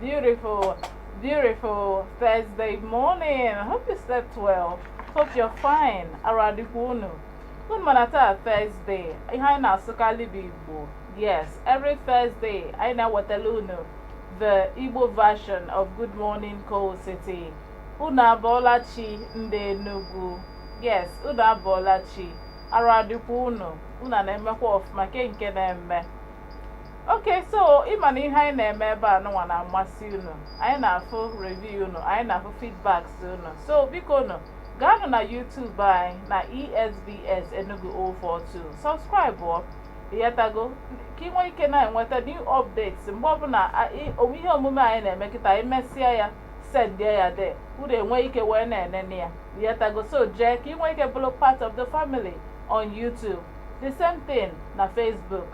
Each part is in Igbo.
Beautiful, beautiful Thursday morning. I hope you slept well. Hope you're fine. Arụ adịkwa unu. Unu ma na taa Thursday, ihe anyị na-asụkarị bụ Igbo. Yes, every Thursday, anyị na-ewetara unu the Igbo version of Good Morning Coal City. Unu abụọla chi ndị Enugu. Yes, unu abụọla chi. Arụ adịkwa unu. Unu na-emekwa ọfụma ke nke na-eme. okay so ịma na ihe anyị na-eme ebe a nụnwa na-amasị unu anyị na-afụ review unu anyị na-afụ feedbacks unu so bikonụ gaanụ na YouTube anyị na ESBS Enugu 042 subscribe ọ ịghọtago ka ị nwee ike na-enweta new updates mgbe ọbụla ihe omume anyị na-eme kịta anyị mesịa ya sendie ya there unu enwee ike wee na-enene ya ịghọtago so jee ka ị nwee ike bụrụ part of the family on YouTube the same thing na Facebook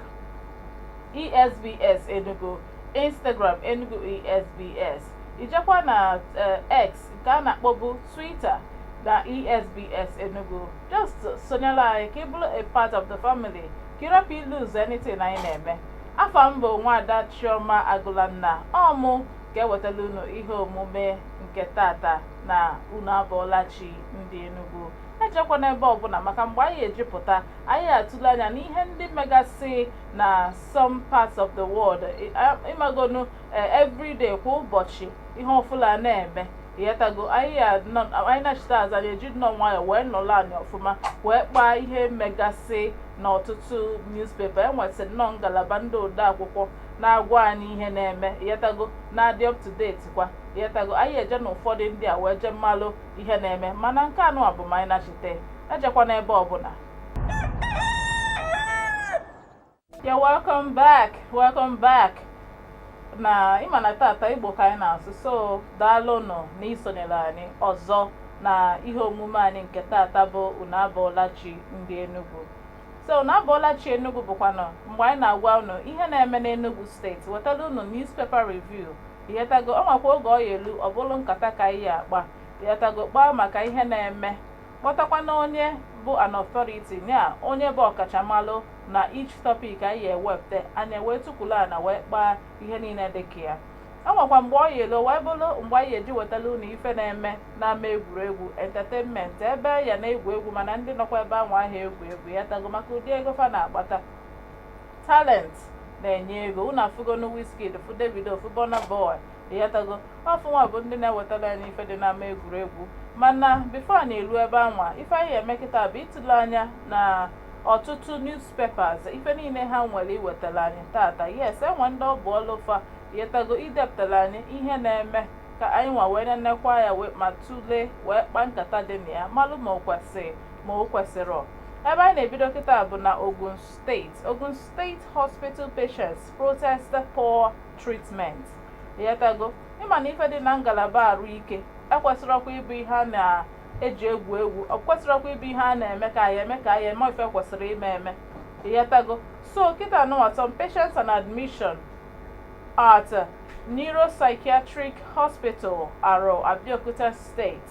esbs enugu instagram enugu esbs i jekwa na eh, x nke a na-akpọbu twitter na esbs enugu just sonyela anyị ka ị bụrụ a part of the family ka ị rapụ ilose anything anyị na-eme afa m bụ nwaada chioma agụlanna ọ mụ ga-ewetara unu ihe omume nke tata na unu abụọla chi ndị enugu ejekwana ebe ọbụla maka mgbe anyị eji pụta anyị atụle anya n'ihe ndị megasị na some parts of the world ị magonụ e, everyday kwa ụbọchị ihe ọfụlụ na-eme ịghọtago anyị nachịta azụ anyị eji nnọọ nwayọọ wee nọrọ anị ọfụma wee kpaa ihe megasị n'ọtụtụ newspaper e nwesị nnọọ ngalaba ndị odeakwụkwọ na-agwa anyị ihe na-eme ịghọtago na-adị up to date kwa ịghọtago anyị eje na ụfọdụ ndị a wee jee malụ ihe na-eme mana nke a nụwa bụ ma anyị nachite ejekwana ebe ọbụla yeah welcome back welcome back na ịma na tata igbo ka anyị na-asụ so daalụnụ na isonyere anyị ọzọ na ihe omume anyị nke tata bụ unu abụọla chi ndị Enugu so unu abụọla chi Enugu bụkwanụ mgbe anyị na-agwa unu ihe na-eme n'Enugu state wetara unu newspaper review ịghọtago o nwekwa oge ọ ya-elu ọ bụrụ nkata ka anyị ya-akpa ịghọtago kpaa maka ihe na-eme kpọtakwanụ onye bụ an authority ya onye bụ ọkachamalụ na each topic anyị ewepụta anyị ewee tukwulu ana wee kpaa ihe niile dị ka ya o nwekwa mgbe ọ ya-elu wee bụrụ mgbe anyị eji wetala unu ife na-eme n'ama egwuregwu entertainment ebe a na-egwu egwu mana ndị nọkwa ebe ahụ anaha egwu egwu ịghọtago maka ụdị ego fa na-akpata talent na-enye ego unu afụgonu Wizkid fụ Davido fụ Burna Boy ịghọtago ọ fa nwa bụ ndị na-ewetara anyị ife dị n'ama egwuregwu mana before a na-eru ebe anwa ife anyị eme kịta bụ ịtụle anya na ọtụtụ newspapers ife niile ha nwere iwetara anyị tata yes enwe ndị ọ bụ ọlụ fa ịghọtago idepụtara anyị ihe na-eme ka anyị nwa wee nenekwa ya ma tụlee wee kpaa nkata dị na ya malụ ma o kwesịrị ma o kwesịrị ebe anyị na-ebido kịta bụ na Ogun State, Ogun State Hospital patients protest poor treatment. Ịghọtago? Ịma na ife dị na ngalaba arụ ike ekwesịrọkwa ịbụ ihe a na-eji egwu egwu ọ kwesịrọkwa ịbụ ihe a na-eme ka anyị eme ka anyị eme ife kwesịrị ime eme ịghọtago so kịta nụwa some patients on admission at Neuropsychiatric Hospital Aro Abeokuta state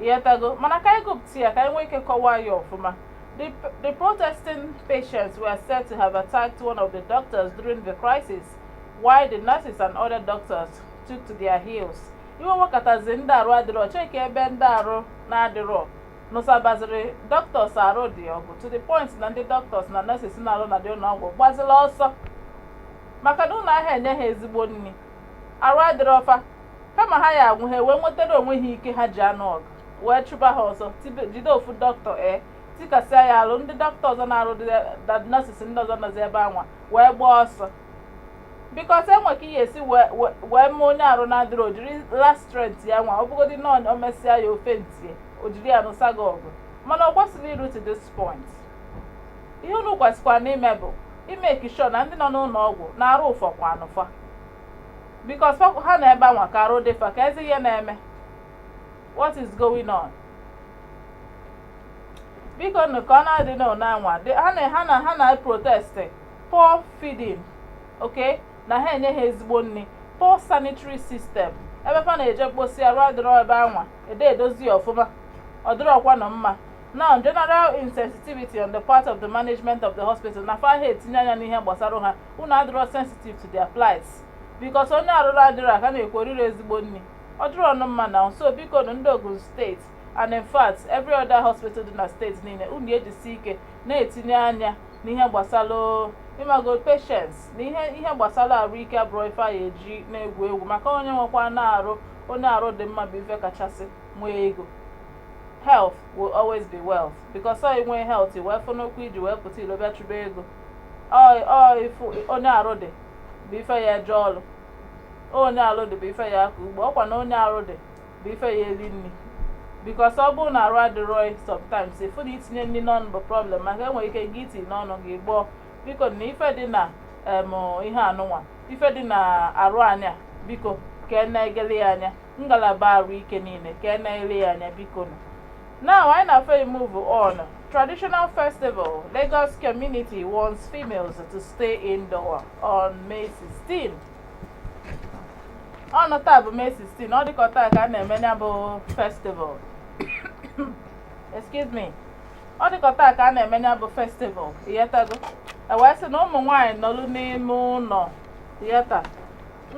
Ịghọtago? Mana ka anyị gụpụta ya ka anyị nwee ike kọwaa ya ọfụma. The, the protesting patients were said to have attacked one of the doctors during the crisis, while the nurses and other doctors took to their heels. Iwe wekatazi ndị arụ adịrọ cheke ebe ndị arụ na-adịrọ nụsabaziri doctors arụ dị ọgụ to the point na ndị doctors na nurses na-arụ na dị ụnọ ọgwụ gbazila ọsọ maka na unu aha enye ha ezigbo nni arụ adịrọ fa kama ha ya-anwụ ha wee nwetara onwe ha ike ha ji anụ ọgụ wee chụba ha ọsọ jide ofu doctor ee tikasịa ya alụ ndị doctor ọzọ na-arụ nurses ndị ọzọ nọzi ebe anwa wee gbaa ọsọ because enwe ka ị ya-esi wee mee onye arụ na-adịrọ o jiri last strength ya nwa ọ bụgodị na o mesịa ya o faintie o jiri ya nụsa gị ọgụ mana ọ kwesịrọ iru to this point ihe unu kwesịkwanụ ime bụ ịmake sure na ndị nọ n'ụnọ ọgwụ na arụ ụfọkwanụ fa because ha nọ ebe anwa ka arụ dị fa kezi ihe na-eme what is going on bikonụ ka ọ na-adị na ụna anwa ha na ha na ha na protest poor feeding okay na aha enye ha ezigbo nni poor sanitary system ebe fa na-eje mkposi arụ adịrọ ebe anwa adị edozi ya ọfụma ọ dịrọkwanụ mma now general insensitivity on the part of the management of the hospital na fa aha etinye anya n'ihe gbasara ha unu adịrọ sensitive to their plights because onye arụ na-adịrọ a ka na-ekwu o rirọ ezigbo nni ọ dịrọnụ mma now so bikonụ ndị Ogun steeti and in fact every other hospital dị na steeti niile unu ejisi ike na-etinye anya n'ihe gbasara ịmago patients na ihe ihe gbasara arụ ike abụrọ ife a ya-eji na-egwu egwu maka onye nwekwanụ arụ onye arụ dị mma bụ ife kachasị nwee ego health will always be wealth because ọ ị nwee health wee fụnụ ụkwụ iji wee pụta ilo bịa chụba ego ọ ọ ifu onye arụ dị bụ ife ya eje ọrụ onye arụ dị bụ ife ya akọ ugbo ọkwa na onye arụ dị bụ ife ya eri nri because ọ bụrụ na arụ adịrọ gị sometimes ịfụ na itinye nri n'ọnụ bụ problem maka enwere ike gị itinye n'ọnụ gị gbọọ biko na ife dị na em ihe anụnwa ife dị na arụ anyị a biko ka e na-egele ya anya ngalaba arụ ike niile ka a na-ele ya anya biko nụ. Now anyị na fe move on. Traditional festival, Lagos community wants females to stay indoor on May 16. Ọnụ taa bụ May 16, ọ dịka taa ka a na-eme ya bụ festival. Excuse me. Ọ dịka taa ka a na-eme ya bụ festival, ịghọtago? E wee sị na ụmụ nwaanyị nọlụ n'ime ụlọ, ịghọta?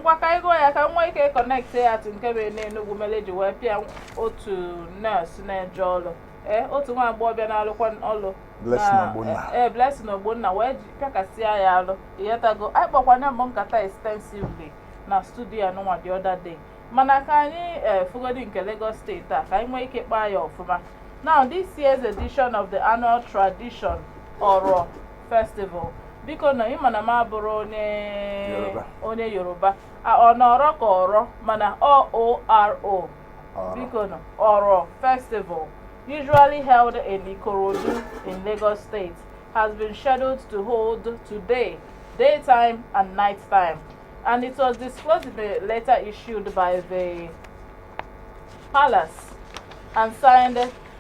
ngwa ka anyị gụọ ya ka anyị nwee ike connect ya to nke mere n'enugwu mere eji wee pịa otu nurse na-eje ọrụ ee otu nwa agbọghọbịa na-alụkwa ọrụ Blessing na- Ogbonna. ee Blessing Ogbonna wee ji- pịakasịa ya alụ ịghọtago anyị kpakwa ya bụ nkata extensively na studio anụnwa the other day mana ka anyị ee fugodi nke Lagos steeti a ka anyị nwee ike kpaa ya ọfụma now this year's edition of the annual tradition Oro festival biko na ịma na m abụrọ onye Yoruba. onye yoruba A- ọ nọrọ ka ọrọ mana ọ oro Ọrọ. biko na Oro festival usually held in ikorodu in lagos state has been scheduled to hold today daytime and night time and it was disclosed in a letter issued by the palace and signed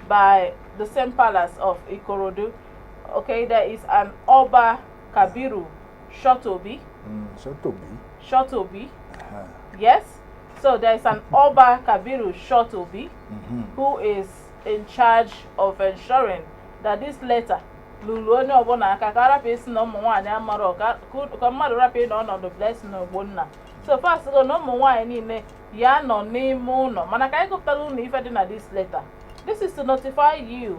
by the same palace of Ikorodu Okay, there is an Oba Kabiru Shotobi. Mm, Shotobi. Shotobi. Uh -huh. Yes. So there is an Oba Kabiru Shotobi mm -hmm. who is in charge of ensuring that this letter lulu onye ọbụla aka ka arapụ ịsị na ụmụ nwaanyị amarọ ka mmadụ rapụ ịnọ ọnọdụ blessing ogbonna so fa sịgo na ụmụ nwaanyị niile ya nọ n'ime ụlọ mana ka anyị gụpụtara unu ife dị na this letter this is to notify you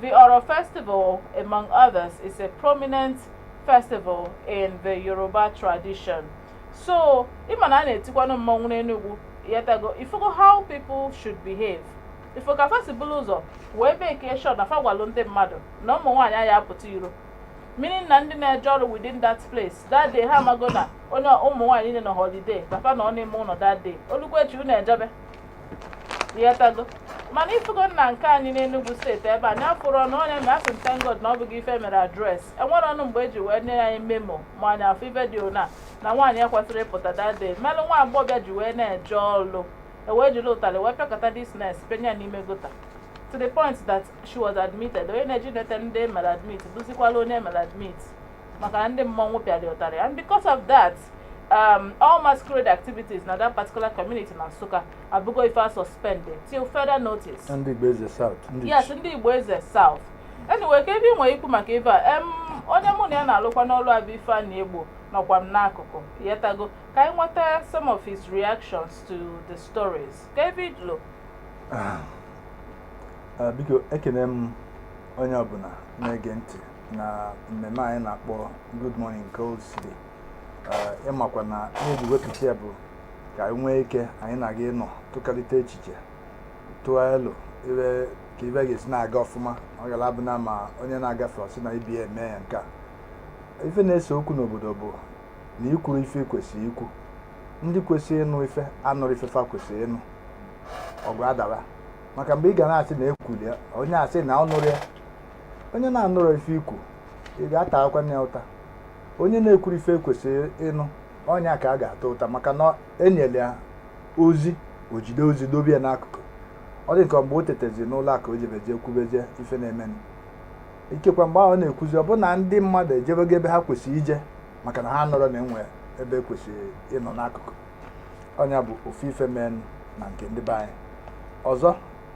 The Oro Festival, among others, is a prominent festival in the Yoruba tradition. So, ịma na a na-etikwanụ mmọnwụ n'Enugwu, ịghọtago ịfụgo how people should behave. Ịfụ ka fa si bụrụ ụzọ wee make sure na fa gwalụ ndị mmadụ na ụmụ nwaanyị aya apụta iro. Meaning na ndị na-eje ọrụ within that place, that day ha amago na ụmụ nwaanyị niile nọ holiday, na fa nọ n'ime ụlọ that day. O lukwa echi unu ejebe. ịghọtago mana ịfụgo na nke anyị n'Enugu steeti ebe anyị na-afụrọnụ onye mgbe asị thank God na ọ bụghị ife mere address enwerọnụ mgbe eji wee nye anyị memo ma anyị afụ ife dị ona na nwaanyị ekwesịrọ ịpụta that day melụ nwa agbọghọbịa ji wee na-eje ọlụ ewee jiri ụtalị wee pịakọta this nurse penye n'ime gutter to the point that she was admitted onye na-eje enete ndị e mere admit bụzikwala onye e mere admit maka na ndị mmọnwụ pịara ya ụtarị and because of that um, all masquerade activities na that particular community na Nsukka abụgo ife a suspended till further notice ndị Igbo Eze South ndị yes ndị Igbo Eze South anyway kee ife ị nwere ikwu maka ife a em onye mụ na ya na-alụkwa n'ọlụ a bụ Ifeanyi Egbo nọkwa m n'akụkụ yetago ka anyị nweta some of his reactions to the stories ka ebe idlo biko ekene m onye ọbụna na-ege ntị na mmemme anyị na-akpọ Good Morning Coal City eh, ịmakwa na e ji wepụta ya bụ ka anyị nwee ike anyị na gị anọ tụkalite echiche tụọ elo ile ka ife ga-esi na-aga ọfụma ọ ga-abụ na ma onye na-agafe ọ sị na ibi eme ya nke a ife na-ese okwu n'obodo bụ na i kwuro ife kwesịrị ikwu ndị kwesịrị ịnụ ife anụrọ ife fa kwesịrị ịnụ ọgụ adawa maka mgbe ị ga na-asị na e kwulu ya onye asị na ọ nụrọ ya onye na-anụrọ ife i kwu ị ga-atakwa nya ụta onye na-ekwuro ife e kwesịrị ịnụ ọ nya ka a ga-ata ụta maka na e nyere ya ozi o jide ozi dobe ya n'akụkụ ọ dị ka mgbe o tetezi n'ụla ka o jebezi kwubezie ife na-emenụ ikekwa mgbe ahụ ọ na-ekwuzi ọ bụ na ndị mmadụ ejebego ebe ha kwesịrị ije maka na ha anụrọ na e nwe ebe e kwesịrị ịnọ n'akụkụ ọ nya bụ ofu ife menụ na nke ndị be anyị ọzọ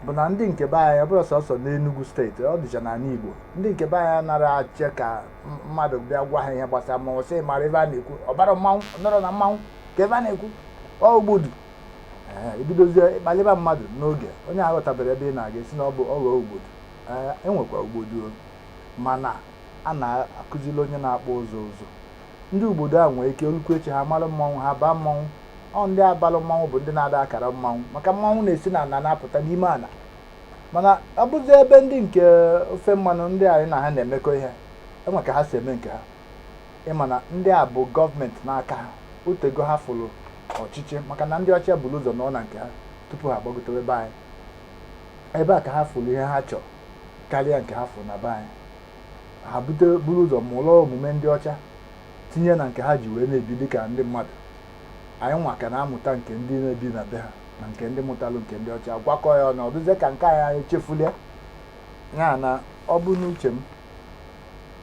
bụ na ndị nke be anyị ọ bụrọ sọsọ n'Enugu steeti ọ dịcha n'anị Igbo ndị nke be anyị anarọ achọ ka mmadụ bịa gwa ha ihe gbasara mmanwụ sị mara ife a na-ekwu ọ bara mmanwụ nọrọ na mmanwụ kee ife ọ na-ekwu ọ ogbodu e bidozie ịkpalịba mmadụ n'oge onye aghọtabero ebe ị na-aga a sị na ọ bụ oho ogbodu e nwekwa ogbodu mana a na-akụziri onye na-akpa ụzọ ụzọ ndị ogbodu a nwere ike o lukwuo echi ha mara mmọnwụ ha baa mmọnwụ ọ ndị a balụ mmọnwụ bụ ndị na-ada akara mmọnwụ maka mmọnwụ na-esi n'ana na-apụta n'ime ana mana ọ bụzi ebe ndị nke ofe mmanụ ndị anyị na ha na-emekọ ihe e nwe ka ha si eme nke ha ịma na ndị a bụ gọọmenti n'aka ha o tego ha fụrụ ọchịchị maka na ndị ọcha buru ụzọ nọ na nke ha tupu ha agbagotebe be anyị ebe a ka ha fụrụ ihe ha chọrọ karịa nke ha fụrụ na be anyị ha buru ụzọ mụrụ omume ndị ọcha tinye na nke ha ji wee na-ebi dịka ndị mmadụ anyị nwa ka na-amụta nke ndị na-ebi na be ha na nke ndị mụtalụ nke ndị ọcha agwakọ ya ọnụ ọ dịzie ka nke anyị anyị chefulu ya na ọ bụ n'uche m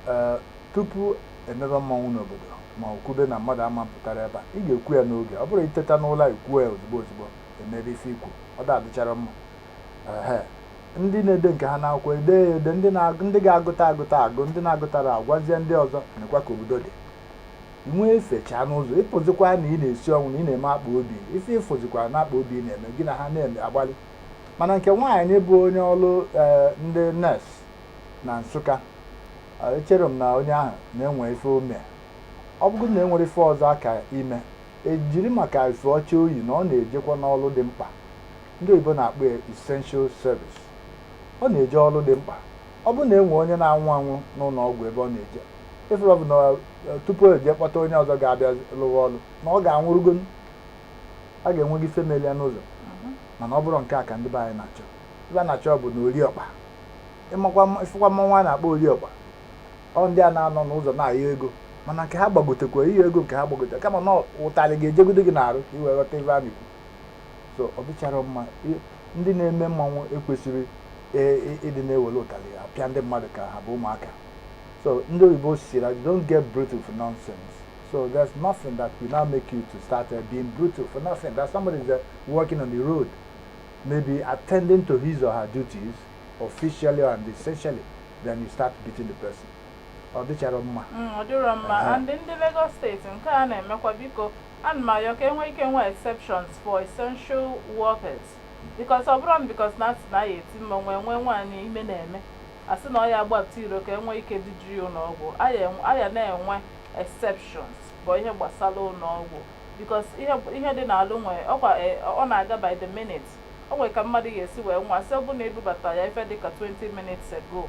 ee tupu e mebe mmanwụ n'obodo ma ọ kwube na mmadụ ama apụtara ebe a ị ga-ekwu ya n'oge ọ bụrọ i teta n'ụla i kwuo ya ozigbo ozigbo e mebe ife i kwu ọ da-adịchara mma ndị na-ede nke ha n'akwụkwọ ede ya ede ndị ndị ga-agụta agụta agụ ndị na-agụtara agwazie ndị ọzọ nekwa ka obodo dị nwee efechaa n'ụzọ ịpụzikwa na ị na-esi ọnwụ na ị na-eme akpa obi ife ịfụzikwa na akpa obi ị na-eme gị na ha na-eme agbalị mana nke nwaanyị bụ onye ọrụ eh, ndị nurse na Nsụka eh, echere m na onye ahụ na-enwe ife o me ọ bụrụ na enwere ife ọzọ a ka-eme e jiri maka efe ọcha o yi na ọ na-ejekwa n'ọrụ dị mkpa ndị oyibo na-akpọ ya essential service. Ọ na-eje ọrụ dị mkpa. Ọ bụrụ na e nwee onye na-anwụ anwụ n'ụlọ ọgwụ ebe ọ na-eje, ịfụrụ bụ na eh, tupu e jee kpọta onye ọzọ ga-abịa lụwa ọrụ na ọ ga-anwụrụgo a ga-enwe gị ife meli ya n'ụzọ mana ọ bụrọ nke a ka ndị be anyị na-achọ ife a na-achọ bụ na oriọkpa ịmakwa mma- ịfụkwa mmanwụ a na-akpọ oriọkpa ọ ndị a na-anọ n'ụzọ na-ayọ ego mana nke ha gbagotekwa ịyọ ego nke ha gbagote kama na ụtarị ga-ejegodo gị n'arụ ka i wee ghọta ife a na-ekwu so ọ dịcharọ mma ndị na-eme mmanwụ ekwesịrọ e, e, ịdị na-ewere ụtalị apịa ndị mmadụ ka ha bụ ụmụaka so ndị oyibo si that you don't get brutal for nonsense so there's nothing that will now make you to start uh, being brutal for nothing that somebody is uh, working on the road maybe attending to his or her duties officially and essentially then you start beating the person ọ dịcharọ mma mm, ọ dịrọ mma ndị Lagos steeti nke a na-emekwa biko Ana m ayọ ka e nwee ike nwee exceptions for essential workers because ọ bụrọnụ because na a sị na a ya-eti mmanwụ e nwee nwaanyị ime na-eme a sị na ọ ya-agbapụta iro ka e nwee ike duje ya ụlọọgwụ a ya na-enwe exceptions bụ ihe gbasara ụlọọgwụ because ihe dị n'alụ nwee ọkwa ọ na-aga by the minute o nwere ka mmadụ ga-esi wee nwụọ a sị ọ bụrụ na e bubata ya ife dịka 20 minutes ago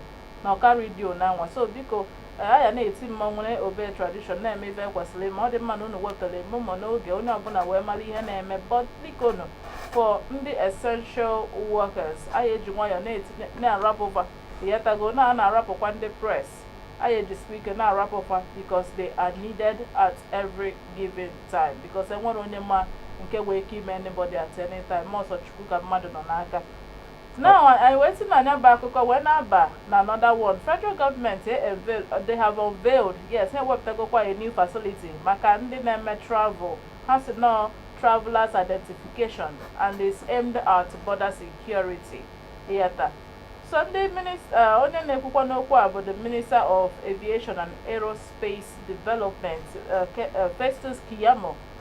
na ọ ka redio na nwa so biko eh, a ya na-eti mmanwụ na-obey tradition na-eme ife e kwesịrị ime ọ dị mma na unu wepụtara memo n'oge onye ọbụla wee mara ihe na-eme but biko nụ for ndị essential workers a ya-eji nwayọọ na-etinye na-arapụ fa ị ghọtago na a na-arapụkwa ndị press anyị ejisikwa ike na-arapụ fa because they are needed at every given time because enwerọ onye ma nke nwee ike ime anybody at any time ma ọ sọ Chukwu ka mmadụ nọ n'aka Now, anyị wee si na ya bụ akụkọ wee na-aba na another one. Federal government eh, unveil, they have unveiled, yes, ha ewepụtagokwa a new facility maka ndị na-eme travel. Ha sị na ọ travelers identification and is aimed at border security. Ị ghọta. So ndị minist- eh, onye na-ekwukwa n'okwu a bụ the Minister of Aviation and Aerospace Development, eh, Ke- eh, Festus Keyamo,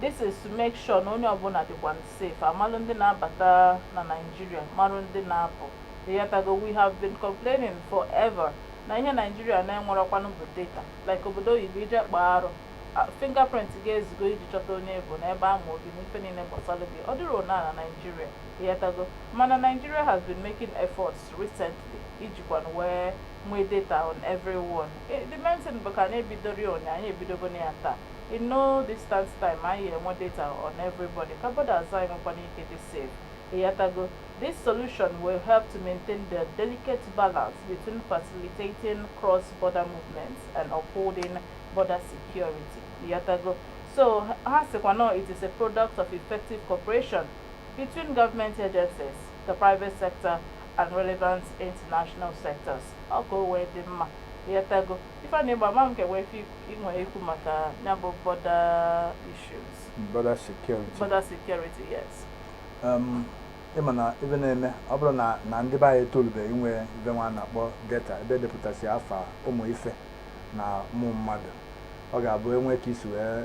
This is to make sure na onye ọbụla dịkwa safe, amalụ ndị na-abata na Nigeria, marụ ndị na-apụ. Ịghọtago, we have been complaining forever na ihe Nigeria na-enwerọkwanụ bụ data. Like obodo oyibo i jee kpaa arụ, fingerprint gị ezugo iji chọta onye ị bụ na ebe ama obi na ife niile gbasara gị. Ọ dịrọnụ na Nigeria, ịghọtago. Mana Nigeria has been making efforts recently ijikwanụ wee nwee data on everyone eh, the main thing bụ ka anyị ebidori once anyị ebidogo na ya taa in no distant time anyị enwe data on everybody ka borders anyị nwekwanụ ike dị safe ịghọtago this solution will help to maintain the delicate balance between facilitating cross-border movements and upholding border security ịghọtago so ha sịkwa na it is a product of effective cooperation between government agencies the private sector and relevant international sectors ọ ka o wee dị mma ịghọtago Ifeanyị Egbo ama m ka enwe ife i nwe ikwu maka ya bụ border issues border security border security yes um, ịma na ife na-eme ọ bụrụ na ndị be anyị etolubeghị inwe ife nwa a na-akpọ data ebe edepụtasị afa ụmụ ife na ụmụ mmadụ ọ ga-abụ enwe ka isi wee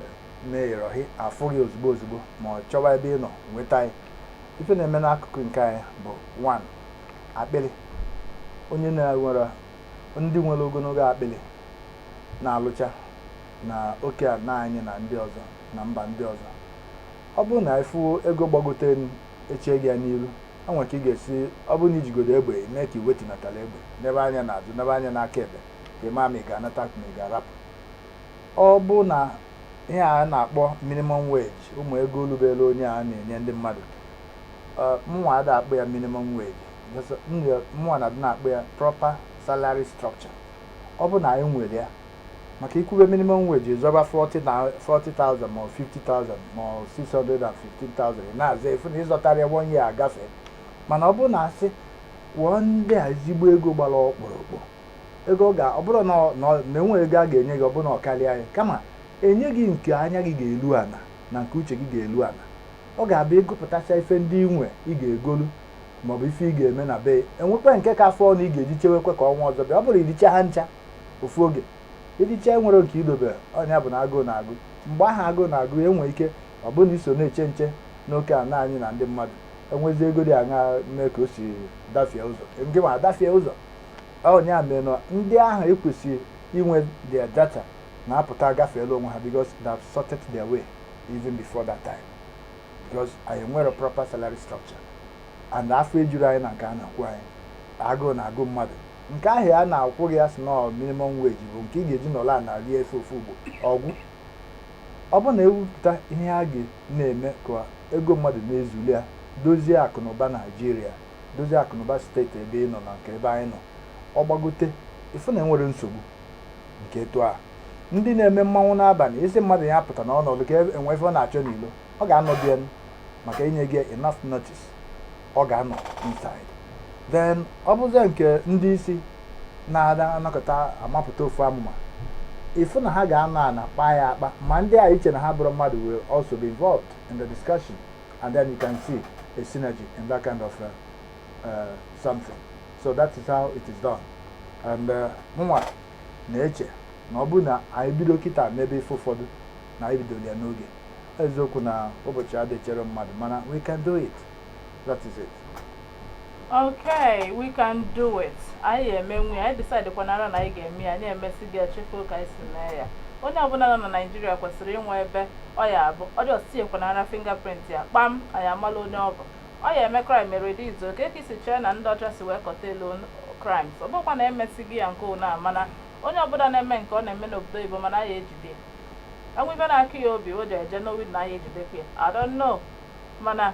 mee error afụ gị ozugbo ozugbo ma ọ chọwa ebe ị nọ nweta gị ife na-eme n'akụkụ nke anyị bụ one akpịrị ọ nya na enwere ndị nwere ogologo akpịrị na-alụcha na oke ana anyị na ndị ọzọ na mba ndị ọzọ ọ bụrụ na ịfụ ego gbagote elu echee gị ya n'iru enwe ka ị ga-esi ọ bụrụ na ijigodo egbe mee ka i wetunatara egbe nebe anya n'azụ nebe anya n'aka ekpe ka ị maa ma ị ga-anata ma ị ga-arapụ Ọ bụ na ihe a na-akpọ minimum wage ụmụ ego olubere onye a na-enye ndị mmadụ mụnwa ada akpọ ya minimum wage mụnwa na-adị na-akpọ ya proper salary structure ọ bụ na anyị nwere ya maka ikwube minimum wage zọba 40,000 ma 50,000 ma 615,000 na-azọ efu na ịzọtara ya one year agafe mana ọ bụ na asị kwụọ ndị a ezigbo ego gbara ọkpụrụkpụ ego ọ ga ọ bụrụ na ọ- na ọ- na enwe ego a ga-enye gị ọ bụrụ na ọ karịa ya kama enye gị nke anya gị ga-elu ana na nke uche gị ga-elu ana ọ ga-abụ igopụtacha ife ndị ị nwe ị ga-egolu maọbụ ife ị ga-eme na be enwekwa nke ka fọọ na ị ga-eji chewekwa ka ọnwa ọzọ bịa ọ bụrụ iricha ha ncha ofu oge iricha enwerọ nke idobe ọ nya bụ na agụụ na-agụ mgbe ahụ agụụ na-agụ ya enwee ike ọ bụrụ na iso na-eche nche n'oke ana anyị na ndị mmadụ enwezi ego dị aṅa mee ka o si dafie ụzọ nke ma adafie ụzọ ọ bụ ya mere na ndị ahụ ekwesịghị inwe their data na-apụta agafeela onwe ha because they have sorted their way even before that time because anyị enwerọ proper salary structure and afọ ejurọ anyị na nke a na-akwụ anyị agụụ na-agụ mmadụ nke ahụ a na-akwụ gị a sị na minimum wage bụ nke ị ga-eji nọrọ ana rie ife ofu ugbo ọ gwụ ọ bụrụ na ewepụta ihe a ga na-eme ka ego mmadụ na-ezulu ya dozie akụ na ụba naijiria dozie akụnụba steeti ebe ị nọ na nke ebe anyị nọ ọ gbagote ịfụ na enwere nsogbu nke etu a ndị na-eme mmanwụ n'abanị sị mmadụ ya apụtana ọ nọdụ ka enwe ife ọ na-achọ n'ilo ọ ga-anọ be ya maka e nyego enough notice ọ ga-anọ inside then ọ bụzie nke ndị isi na-anọkọta amapụta ofu amụma ịfụ na ha ga-anọ ana kpaa ya akpa ma ndị a e che na ha abụrọ mmadụ will also be involved in the discussion and then you can see a synergy in that kind of uh, uh, something. So that is how it is done. And uh, mụnwa uh, na-eche na ọ bụrụ na anyị bido kịta mebe ife ụfọdụ na anyị ebidorọ ya n'oge eziokwu na ụbọchị adị echere mmadụ mana we can do it that is it okay we can do it anyị ya-emenwu ya anyị decide kwanara na anyị ga-eme ya anyị emesịa gị echefu ka anyị si mee ya onye ọbụla nọ na naijiria kwesịrị inwe ebe ọ ya-abụ ọ dị ọsịsị ekwanara fingerprint ya kpam anyị amala onye ọ bụ ọ ya-eme crime e reduce kee ka i si chee na ndị ọcha si wee curtail crimes ọ bụkwa na emesigo ya nke ụna mana onye ọbụla na-eme nke ọ na-eme n'obodo oyibo ma na a ya-ejide enwe ibe na-akụ ya obi o ji eje n'owid na a ya-ejidekwa ya I don't know mana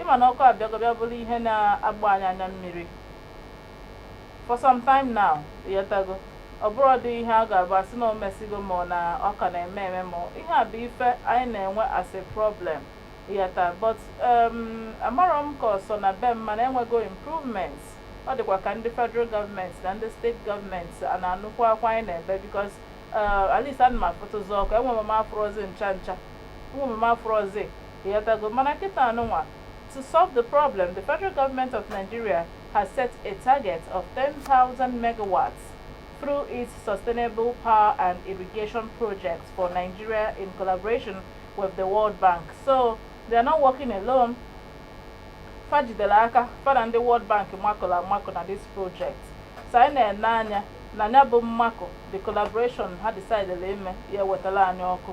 Ịma na ọkụ abịago bịa bụrụ ihe na-agba anyị anya mmiri for some time now, ịghọtago ọ bụrọdị ihe a ga-abụ a sị na o mesigo ma na ọ ka na-eme eme ma ihe a bụ ife anyị na-enwe as a problem ịghọta but um, amarọ m ka ọ sọ na be m mana enwego improvements ọ dịkwa ka ndị federal government na ndị state government a na-anụkwu akwa anyị na-ebe because uh, at least ana m afụtụzi ọkụ enwere m afụrọzi ncha ncha enwere m afụrọzi Ịghọtago? Mana kịtaa nụnwa, to solve the problem, the federal government of Nigeria has set a target of 10,000 megawatts through its sustainable power and irrigation projects for Nigeria in collaboration with the World Bank. So they are not working alone. fa jidere aka fa na ndị World Bank makụrụ amakụ na this project so anyị na-ene anya na nya bụ mmakụ the collaboration ha decidere ime ya-ewetara anyị ọkụ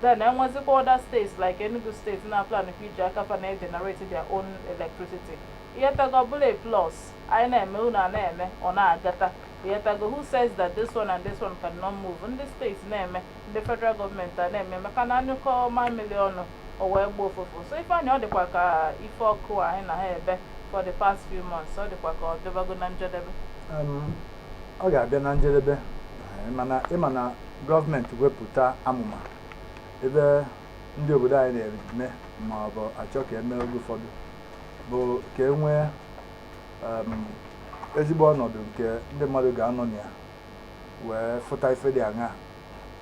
then enwezikwa other states like Enugu state na-aplankwa iji aka fa na-egenerate their own electricity ị ghọtago ọ bụlụ a plus anyị na-eme unu a na-eme ọ na-agata ị ghọtago who says that this one and this one cannot move ndị state na-eme ndị federal government a na-eme maka na a nyụkọọ mamịlị ọnụ o wee gbọọ ụfụfụ so Ifeanyị ọ dịkwa ka ife ọkụ anyị na ha ebe for the past few months ọ dịkwa ka ọ dịbago na njedebe um, ọ ga-abịa na njedebe eh, ị ma na gọọmenti wepụta amụma ebe ndị obodo anyị na-eme ma ọ bụ achọ ka e mee oge ụfọdụ bụ ka e nwee ezigbo ọnọdụ nke ndị mmadụ ga-anọ na ya wee fụta ife dị aṅa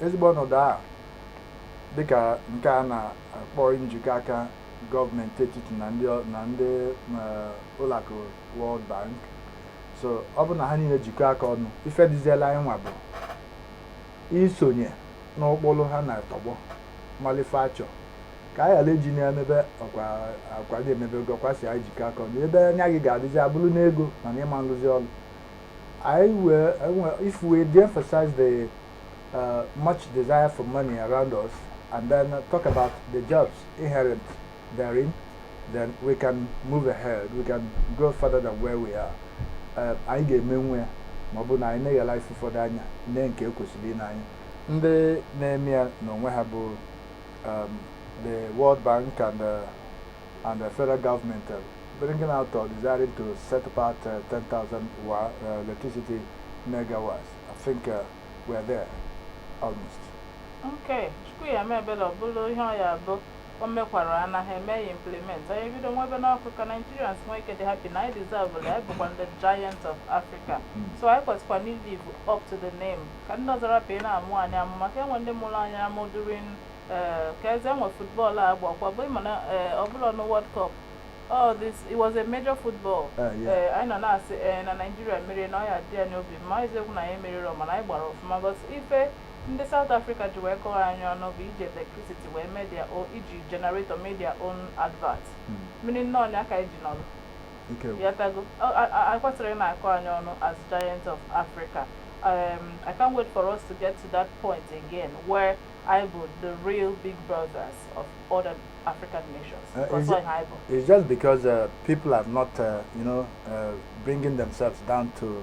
ezigbo ọnọdụ a dịka nke a na-akpọ njikọ aka gọọmenti etiti na ndị ụlọakụ World Bank so ọ bụ na ha niile jikọọ aka ọnụ ife dịzịlị anyị nwa bụ isonye n'ụkpụrụ ha na-atọgbọ malụ ife a chọ ka anyị ghara iji na-emebe ọkwa akwa gị emebe ego ọkwa si anyị jikọ aka ọnụ ebe anya gị ga-adịzi abụrọ n'ego na n'ịma nrụzi ọrụ anyị wee enwe- if we de-emphasize the uh, much desire for money around us and then uh, talk about the jobs inherent therein, then we can move ahead, we can go further than where we are. Eh, anyị ga-emenwu ya ma ọ bụ na anyị neghalụ ife ụfọdụ anya nee nke e kwesịrị ine anya ndị na-eme ya n'onwe ha bụ um, the World Bank and the, uh, and the federal government uh, bringing out or desiring to set apart uh, 10,000 uh, electricity megawatts. I think uh, we're there almost. Okay, Chukwu ya mebele, ọ bụrụ ihe ọ ya-abụ o mekwara ya na ha emee ya implement anyị ebido nwebenụ ọkụ ka Nigerians nwee ike dị happy na anyị deserve ya anyị bụkwa the giant of Africa so anyị kwesịkwanụ live up to the name ka ndị ọzọ rapụ ịna-amụ anyị amụ maka e nwee ndị mụrụ anyị amụ during eh, ka eze enwe football a gbakwa bụ ịma na eh, ọ bụrọ na World Cup all this it was a major football Ah, yeah. Eh, anyị nọ na-asị eh, na Nigeria meriri na ọ ya-adị anyị obi mma eziokwu na anyị meriri mana anyị gbara ọfụma but ife Ndị South Africa ji wee kọọ anyị ọnụ bụ iji electricity wee mee their own iji generator mee their own advert meaning na ọ ya ka anyị ji nọrọ Ike gwụ. ị ghọtago e kwesịrọ na-akọ anyị ọnụ as giant of Africa um, I can't wait for us to get to that point again where anyị bụ the real big brothers of other African nations Uh, Because is ọ it- ha bụ. It's just because uh, people are not, uh, you know, uh, bringing themselves down to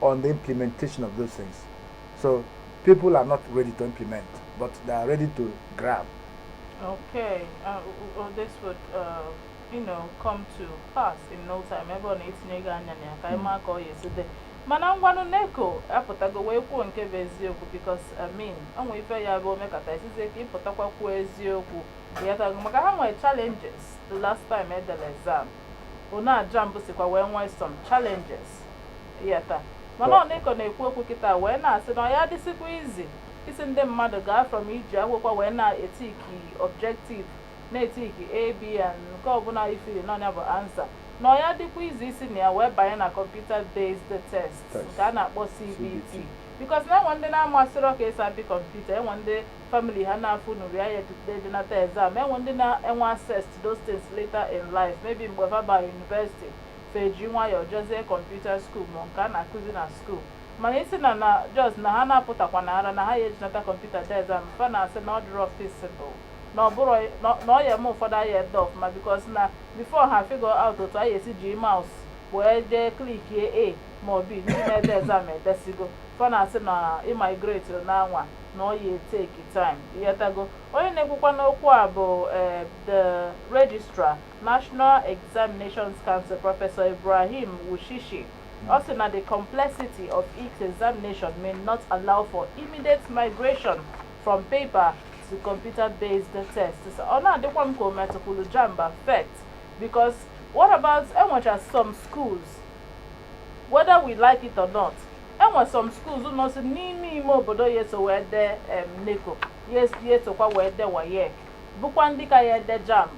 on the implementation of those things. So people are not ready to implement, but they are ready to grab. Okay, uh, well, this would, uh, you know, come to pass in no time. Ebe ọ na-etinye gị anya na ya ka anyị maa ka ọ ya esi dị. Mana ngwanụ NECO apụtago wee kwuo nke bụ eziokwu because I mean o nwee ife ya bụ o mekata a sịzie ka ị pụtakwa kwuo eziokwu. Ịghọtago maka ha nwere challenges the last time edere exam. Ono a JAMB sikwa wee nwee some challenges. Ịghọta? Mana ọ- ọ NECO na-ekwu okwu kịta wee na-asị na ọ ya adịsịkwa easy ịsị ndị mmadụ gaa from iji akwụkwọ wee na-etiki objective na-etiki A, B and nke ọbụla i feeliri na ọ nya bụ answer na ọ ya adịkwa easy isi na ya wee banye na computer based test nke a na-akpọ CBT because na enwe ndị na-amasịrọ ka esi apị kọmputa enwe ndị family ha na-afụnurọ ya edenata exam enwe ndị na-enwe access to those things later in life maybe mgbe fa bara university fa eji nwayọọ jezie computer school ma nke a na-akụzi na school mana ịsị na na just na ha na-apụtakwa na ara na ha ya ejinata kọmputa dee exam fa na-asị na ọ dịrọ feasible na ọ bụrụ na ọ ya eme ụfọdụ aya ede ọfụma because na before ha figure out otu a ya esi ji mouse wee jee klikie A ma ọ B ndị na-ede exam edesịgo fa na-asị na imigrate na anwa na ọ ya eteki time ịghọtago onye na-ekwukwanụ okwu a bụ eh, the registrar national examinations council Professor Ibrahim Wushishi ọ sị na the complexity of each examination may not allow for immediate migration from paper to computer based test so ọ na-adịkwa m ka o metụkwuru JAMB affect because what about enwecha some schools whether we like it or not enwe some schools nọsị n'ime ime obodo ya eso wee dee em, NECO ya es- ya esokwa wee dee WAEC bụkwa ndị ka ya ede JAMB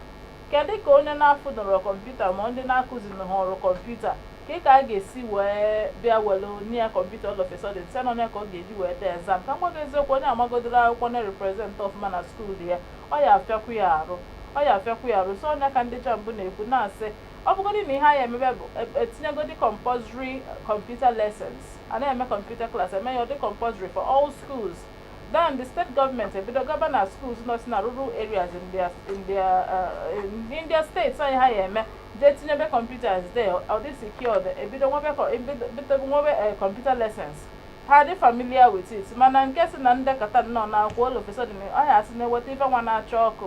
kedu ka onye na-afụnurọ kọmputa ma ndị na-akụzinurọ kọmputa ka ị ka a ga-esi wee bịa were nye ya kọmputa all of a sudden sị na ọ nya ka ọ ga-eji wee dee exam ka m gwa gị eziokwu onye amagodoro akwụkwọ na-represent ọfụma na school ya ọ ya afịakwu ya arụ ọ ya afịakwu ya arụ so ọ nya ka ndị JAMB na-ekwu na-asị ọ bụgodị na ihe a ya emebe bụ etinyegodi compulsory computer lessons a na-eme computer class eme ya ọ dị compulsory for all schools then the state government ebido gaba na schools nọ si na rural areas in their, in their, uh, in their states anyị ha ya eme jee tinyebe computers there ọ dị secured ebido nwebe nwebe computer lessons ha dị familiar with it mana nke sị na m dekata nnọọ na akwụkwọ all of a sudden ọ ya asị na-eweta ife nwa na-acha ọkụ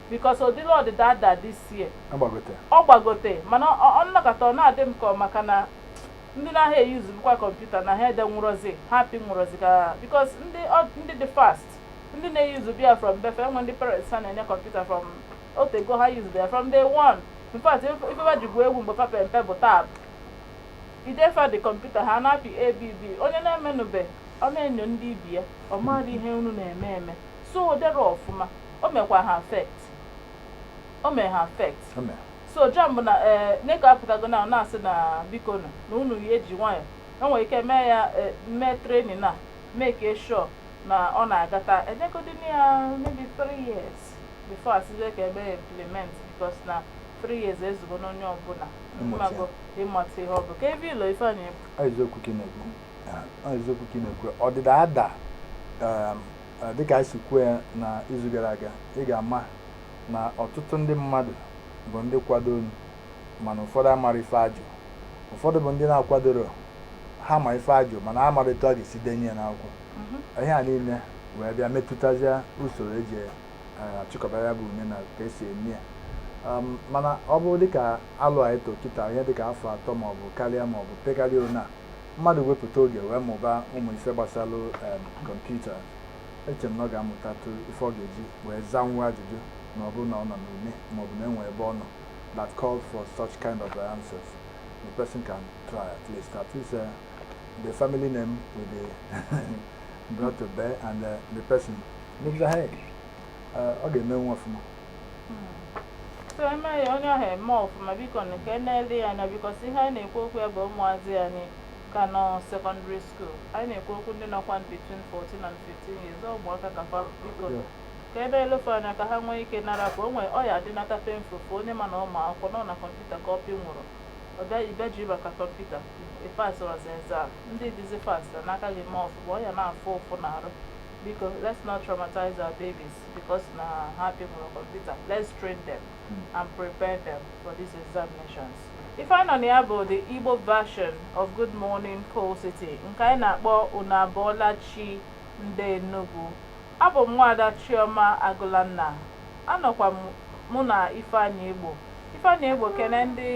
because ọ dịlọ ọdịda ada this year agbagote ọ gbagote mana ọ- ọ nọkata ọ na-adị m ka ọ maka na ndị na-aha euse bukwa kọmputa na ha edenwurozi ha pịnwurozi ka because ndị ọ- ndị dị fast ndị na-eusebu ya from be fa e nwee ndị parents ha na-enye kọmputa from o tego ha use ya from day one in fact ife- ife wa ji gwuo egwu mgbe fa pe mpe bụ tab idefa the kọmputa ha na-apị abb onye na-emenube ọ na-enyo ndị ibe ya ọ marọ ihe unu na-eme eme so o derọ ọfụma o mekwa ha affect o mee ha affect O mere. so JAMB bụ na ee NECO apụtago na na-asị na bikonu na unu ya eji nwayọ e nwere ike mee ya eh, mee training na make sure na ọ na-agata enyegodinu ya maybe three years before asịzie ka e mee implement because na three years ezugo n'onye ọbụla Ịmụta ya. mmago ịmata ihe ọ bụ kee ife ị lo Ifeanyị bụ Ọ eziokwu ka ị na-ekwu. Ah, Ọ eziokwu ka ị na-ekwu. Ọdịda ada um, dịka anyị si kwuo ya na izu gara aga ị ga-ama na ọtụtụ ndị mmadụ bụ ndị kwadonụ mana ụfọdụ amarọ ife ajụ ụfọdụ bụ ndị na-akwadoro ha ma ife ajụ mana ha amarọ etu a ga-esi denye ya n'akwụkwọ ihe a niile wee bịa metụtazie usoro eji achịkọba ya bụ une na ka esi eme ya mana ọ bụrụ dịka alo anyị tụ kịta ihe dịka afọ atọ maọbụ karịa maọbụ pekarịa one a mmadụ wepụta oge wee mụba ụmụ ife gbasalụ em, kọmputa eche m na ọ ga-amụtatụ ife ọ ga-eji wee zanwuo ajụjụ na ọ bụrụ na ọ nọ n'une maọbụ na enwe ebe ọ nọ that called for such kind of answers the person can try at least at least uh, the family name will be brought to bear and uh, the person moves ahead. Uh, ọ ga-emenwu ọfụma so eme ya onye ahụ eme ọfụma bikonu ka e nele ya anya because ihe anyị na-ekwu okwu ya bụ ụmụazị anyị ka nọ secondary school anyị na-ekwu okwu ndị nọkwa between 14 and 15 years ọ ụmụaka ka fa biko ka e nele fa anya ka ha nwee ike nara ka o nwee ọ ya adịnata painful onye ma na ụmụ akwụkwọ nọ na kọmputa ka ọ pịnwurọ ọ bịa ibe ji maka kọmputa ịpasịrọzi exam ndị dịzi fast n'aka gị ma ọfụma ọ ya na-afụ ụfụ na arụ biko let's not traumatize our babies because na ha pịnwurọ kọmputa let's train them hmm. and prepare them for these examinations ife anyị nọ na ya bụ the Igbo version of Good Morning Coal City nke anyị na-akpọ unu abọọla chi ndị Enugu abụ m nwaada Chioma Agụlanna anọkwa mụ na Ifeanyị Egbo Ifeanyị Egbo kene ndị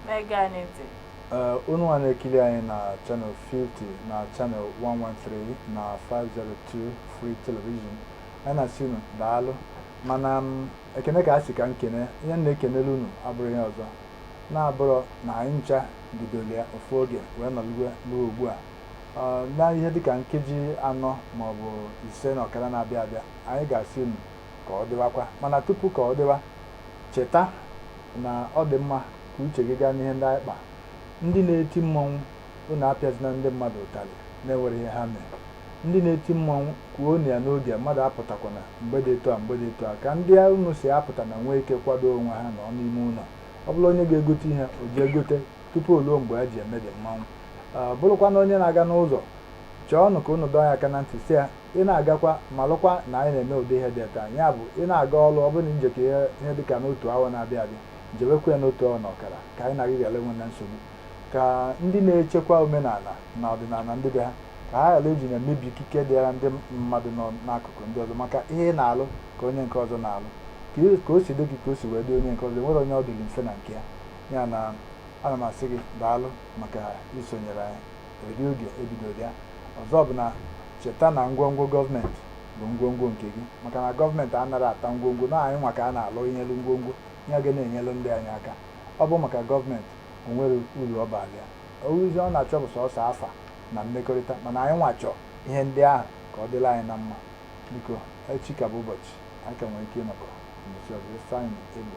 na-ege anyị ntị Eh, unu nwa na-ekiri anyị na Channel 50 na Channel 113 na 502 Free Television anyị na-asị unu daalụ mana m mm, ekene ka a sị ka m kene ihe m na-ekenere unu abụrụ ihe ọzọ na-abụrụ na anyị ncha bidoro ya ofu oge wee nọlue ugbu a eh, na ihe dịka nkeji anọ maọbụ ise na ọkara na-abịa abịa anyị ga-asị unu ka ọ dịwakwa mana tupu ka ọ dịwa cheta na ọ dị mma ka uche gị gaa n'ihe ndị anyị kpara. Ndị na-eti mmọnwụ, unu apịazina ndị mmadụ ụtalị na-enwerọ ihe ha mere. Ndị na-eti mmọnwụ, kwuonụ ya n'oge, mmadụ apụtakwana mgbe dị etu a mgbe dị etu a. Ka ndị unu sị apụtana nwee ike kwadoo onwe ha nọọ n'ime ụlọ. Ọ bụrụ onye ga-egote ihe, o jee gote tupu o ruo mgbe a ji eme dị mmanwụ. Ọ bụrụkwanụ onye na-aga n'ụzọ, chọọnụ ka unu dọọ ya aka na ntị sị ya, ị na-agakwa malụkwa na anyị na-eme ụdị ihe dị etu a ya bụ ị na-aga ọrụ ọ bụrụ na i jekọ ihe ihe dị ka n'otu awa na-abịa abịa jewekwa ya n'otu awa na ọkara ka anyị na gị ghara enwe na nsogbu ka ndị na-echekwa omenala na ọdịnala ndị be ha ka ha ghara iji na-emebi ikike dịara ndị mmadụ nọ n'akụkụ ndị ọzọ maka ihe ị na-alụ ka onye nke ọzọ na-alụ ka ị- ka o si dị gị ka o si wee dị onye nke ọzọ enwerọ onye ọ dịrị mfe na nke ya ya na ana m asị gị daalụ maka isonyere anyị eri oge e bidoro ya ọzọ bụ na cheta na ngwongwo gọọmenti bụ ngwongwo nke gị maka na gọọmenti anaghị ata ngwongwo na anyị nwa ka a na-alụnyelu ngwongwo ihe ga na-enyelu ndị anyị aka ọ bụ maka gọọmenti o nwerọ uru ọ bara ya uruzi ọ na-achọ bụ sọsọ afa na mmekọrịta mana anyị nwa chọọ ihe ndị ahụ ka ọ dịla anyị na mma biko echi ka bụ ụbọchị anyị ka nwere ike ịnọkọ n'ụbọchị ọzọ Ifeanyị Egbe